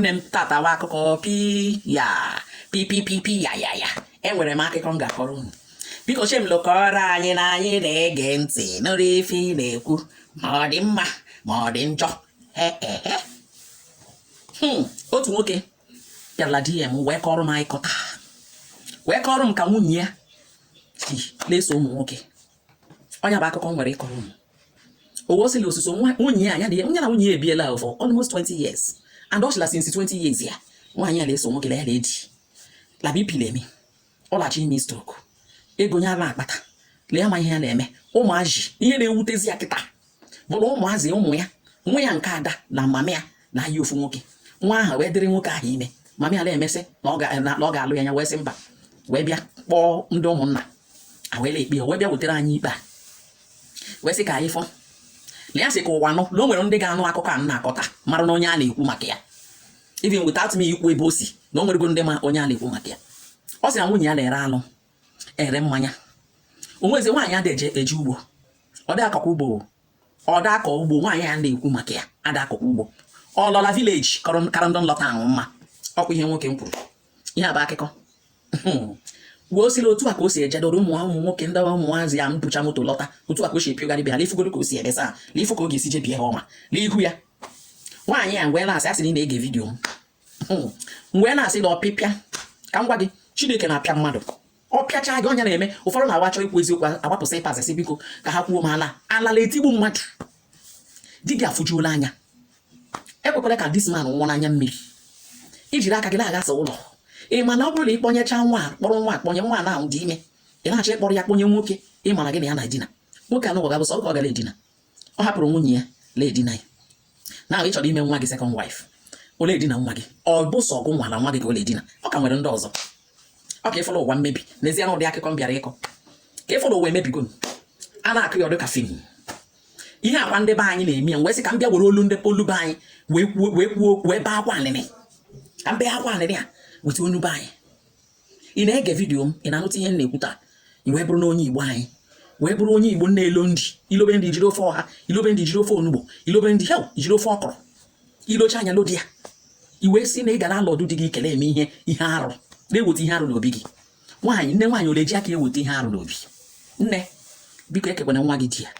nne m tatawa akụkọ pi ya pipipipi ya ya ya enwere m akụkọ m ga-akọrọ unu biko chiemelu kọọrọ anyị na anyị na-ege ntị nụrụ ife ị na-ekwu ma ọ dị mma ma ọ dị njọ hmm, otu nwoke bịara dm wee kọrọ m anyị kọta wee kọrọ m ka nwunye ya si na-eso ụmụ nwoke ọ nya bụ akụkọ m nwere ịkọrọ unu o wee sị la osuso nwunye ya nya na nwunye ya ebiela for almost 20 years and ọ sị la since 20 years ya nwaanyị a na-eso nwoke na ya na-edi la bp le-eme ya ọ la-achọ ime stroke ego nya la-akpata le ya ama ihe ya na-eme ụmụazị ihe na-ewutezi ya kịta bụrụ ụmụazị ụmụ ya nwa ya nke ada na mama ya na-ayị ofu nwoke nwa ahụ wee dịrị nwoke ahụ ime mama ya na-emesị na ọ ga-alụ ya ya wee sị mba wee bịa kpọọ ndị ụmụnna a wee le-ekpe ya wee bịa wetara anyị ikpe a wee sị ka anyị fọ na ya sị ka ụwa nụ na o nwere ndị ga-anụ akụkọ a na-akọ taa mara na onye a na-ekwu maka ya even without me ikwu ebe o si na o nwerego ndị ma onye a na-ekwu maka ya ọ sị na nwunye ya na-ere anụ ere mmanya o nwezi nwaanyị a adị eje ugbo ọ dị akọkwa ugbo ọ dị akọ ugbo nwaanyị a na-ekwu maka ya ada akọkwa ugbo ọ lọ la village kọrọ karandọ nlọta ahụ mma ọkwa ihe nwoke m kwuru ihe a bụ akụkọ wee ọ sị la otu a ka o si ejedoro ụmụ ụmụ nwoke ndị ụmụazị ya mbụcha moto lọta otu a ka o si epiogharị be ha lefugoro ka o si ebesa lefu ka ọ ga-esi jebie ha ọma n'ihu ya nwaanyị a m wee na-asị a sị na ị na-ege video m m wee na-asị na ọpịpịa ka m gwa gị chineke na-apịa mmadụ ọ pịachaa gị ọ nya na-eme ụfọdụ na-awa achọ ikwu eziokwu agbapụsị ịpazasị biko ka ha kwuo ma ala alala etigbu mmadụ di gị afụjuola anya ekwekwala ka this man nwụọ n'anya mmiri i jiri aka gị na-aghasa ụlọ ị ma na ọ bụrụ na ị kpọnyecha nwa kpọrọ nwa a kpọnye nwa ahụ dị ime ị na-achọ ịkpọrọ ya kpọnye nwoke ị mara gị na ya na-edina nwoke anụ ga-abụ sọọ gị ọ ga na-edina ọ hapụrụ nwunye ya la-edina gị na ị chọrọ ime nwa gị second wife ọ le-edina nwa gị ọ bụ sọọ gị nwa na nwa gị ka ọ le-edina ọ ka nwere ndị ọzọ ọ ka ị fụrụ ụwa mmebi n'ezie na ụdị akụkọ m bịara ịkọ ka ị fụrụ ụwa emebigo a na-akọ ya ọ dị ka film ihe a kwa ndị be anyị na-eme ya wee sị ka m bịa were olu ndị olu be anyị wee kwuo wee kwuo wee bee akwa anịnị ka m bee akwa anịnị a weta olu be anyị ị na-ege video m ị na-anụta ihe m na-ekwu taa i wee bụrụ na onye igbo anyị wee bụrụ onye igbo na-elo nri i lobe nri jiri ofe ọha i lobe nri jiri ofe onugbu i lobe nri hel jiri ofe ọkwụrụ i lochaa nya lodi ya i wee sị na ị ga na alọdụ di gị ka ị le-eme ihe ihe arụ na-eweta ihe arụ n'obi gị nwaanyị nne nwaanyị ọ le-eji aka eweta ihe arụ n'obi nne biko ekekwana nwa gị di ya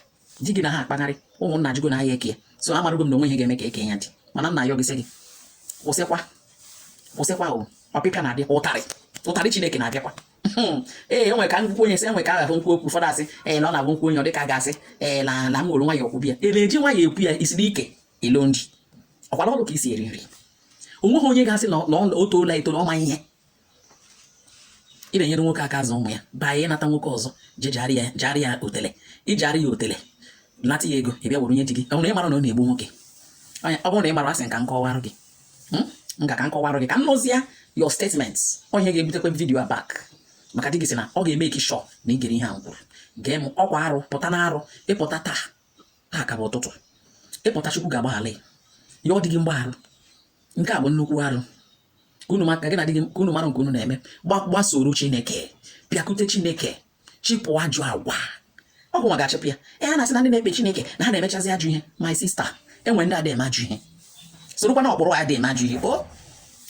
di gị na ha akpagharị ụmụnna ajụgo na ahịa eke ya so amarago m na o nwe ihe ga-eme ka eke ya dị mana m na-ayọ gị sị gị kwụsịkwa kwụsịkwa o ọpịpịa na-abịa ụtarị ụtarị chineke na-abịakwa hmm. ee e nwe ka m kwuo okwu onye sị e nwe ka aghafụ m kwuo okwu ụfọdụ asị ee na ọ na-agwụ nkwu onye ọ dịka ga-asị ee na na m were nwayọ okwu bịa e na-eji nwayọ ekwu ya isiri ike ilo nri ọkwara ọrụ ka isi eri nri o nweghị onye ga-asị na o toola eto na ọ ma ihe ị na-enyere nwoke aka azụ ụmụ ya baa ya ịnata nwoke ọzọ ja jaarị ya jaarị ya otele ị jaarị ya otele nata ya ego ị bịa were nye di gị ọ bụrụ na ị mara na ọ na-egbu nwoke Onye- ọ bụrụ na ị mara asị m ka m kọwarụ gị Hmm? m ka ka m kọwarụ gị ka m nụzie your statements onye ga-ebutekwe vidio a back maka di gị sị na ọ ga-emake sure na ị gere ihe a m kwuru gee m ọkwa arụ pụta na arụ ị pụta taa taa ka bụ ụtụtụ ị pụta chukwu ga-agbaghara ya ọ dị gị mgbaghara nke a bụ nnukwu arụ ka unu maka gị na di gị ka unu mara nke unu na-eme gbasoro chineke bịakute chineke chịpụ ajụ agwa ọ gịwa ga-achịpụ ya a na-asị na ndị na-ekpe chineke na ha na-emechazi ajụ ihe my sister e nwe ndị adị eme ajụ ihe sorokwa na ọkpụrụ adị eme ajụ ihe o